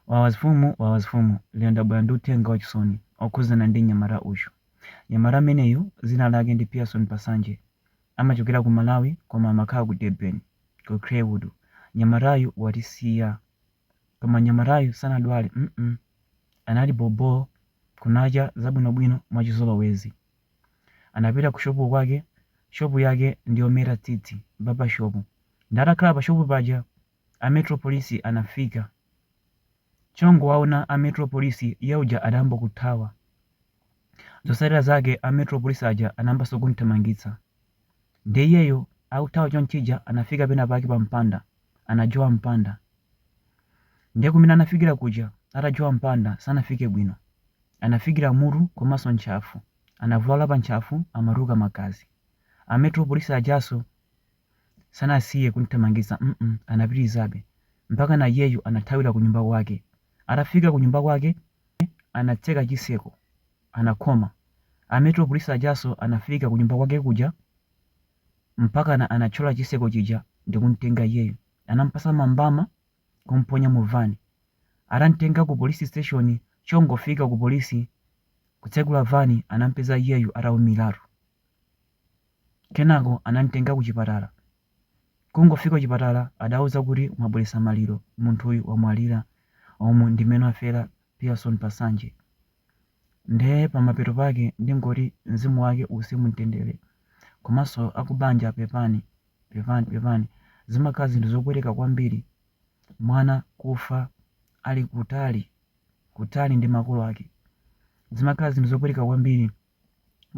Wawazifumu wawazifumu lero ndabwera ndi uthenga wachisoni okhudzana ndi mnyamata uyu. Mnyamata ameneyu dzina lake ndi Pearson Pasanje amachokera ku Malawi koma amakhala ku Durban ku Crewood. Mnyamatayu watisiya koma mnyamatayu sanadwale mm anali bhobhoo kunacha bwinobwino mwachizolowezi. Anapita ku shopu kwake, shopu yake ndi yometa tsitsi, barber shop, nde atakhala pa shopu paja. a metro police anafika chongowaona a metro police iye uja adayamba kuthawa zotsatira zake a metro police aja anayambanso kumthamangitsa nde iyeyo akuthawa chonchija anafika pena pake pa mpanda anajowa mpanda nde kumene anafikira kuja atajowa mpanda sanafike bwino anafikira mutu komanso ntchafu anavulala pa ntchafu amatuluka magazi a metro police ajaso Sanasiye kumthamangitsa mm anapitilizabe mpakana iyeyu anathawila kunyumba kwake. Atafika kunyumba kwake anatseka chitseko anakhoma. A metro police ajaso anafika kunyumba kwake kuja mpakana anatchola chitseko chija ndikumtenga iyeyu. Anampatsa mambama kumponya mu van. Atamtenga ku police station chongofika ku police kutsegula van anampeza iyeyu ataumiratu. Kenako anamtenga kuchipatala. Kungofika kuchipatala adawauza kuti mwabweretsa maliro, munthuyu wamwalira. Umu ndi mmene wafera Pearson Pasanje. Nde pamapeto pake ndingoti mzimu wake uuse mumtendere. Komanso akubanja pepani, pepani, pepani. Zimakhala zinthu zopweteka kwambiri mwana kufa ali kutali, kutali ndi makolo ake. Zimakhala zinthu zopweteka kwambiri.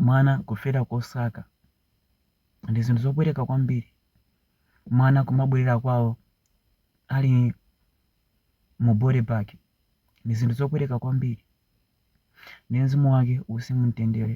mwana kufera kosaka ndi zinthu zopweteka kwambiri mwana kumabwerera kwawo ali mu body bag ndi zinthu zopweteka kwambiri nde mzimu wake uuse mumtendere